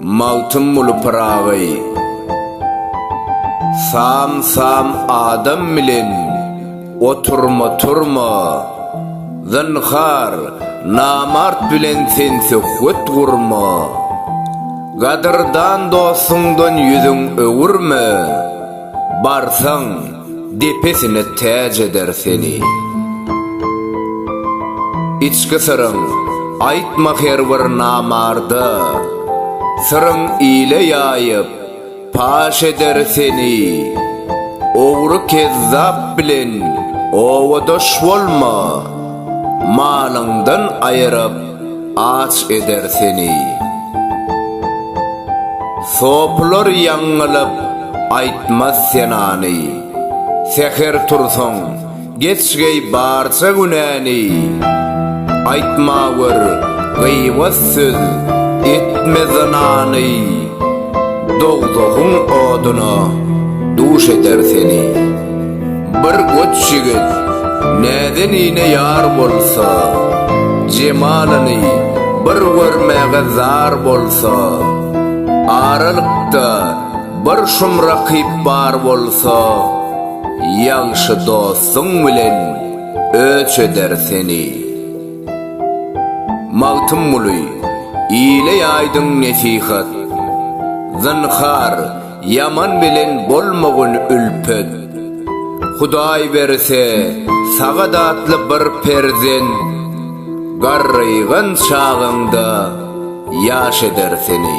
Magtymguly Pyragy Sam-sam adam bilen oturma-turma, Zynhar, namart bilen sen söhbet gurma, Gadyrdan dostuňdan ýüzüň öwürme. Barsaň, depesine täç eder seni. Içki syryň aýtma her bir namarda, Syryň ile ýaýyp, paş eder seni. Ogry kezzap bilen owadaş bolma, Malyňdan aýyryp, aç eder seni. Sopylar ýaňňylyp aýtmaz senany, säher tursaň, geç geý barça günäni. Aýtma gör, gybat söz, etme zynany, dogzahyň oduna duş eder seni. Bir goç ýigit näzenine ýar bolsa, jemalyny bir görmäge zar bolsa, aralykda bir şum rakyp bar bolsa, ýagşy dostuň bilen öç eder seni. Magtymguly, ile ýaýdyň nesihat. Zynhar, Ýaman bilen bolmagyn ülpet. Hudaý berse, sagadatly bir perzent garrygan çagaňda ýaş eder seni.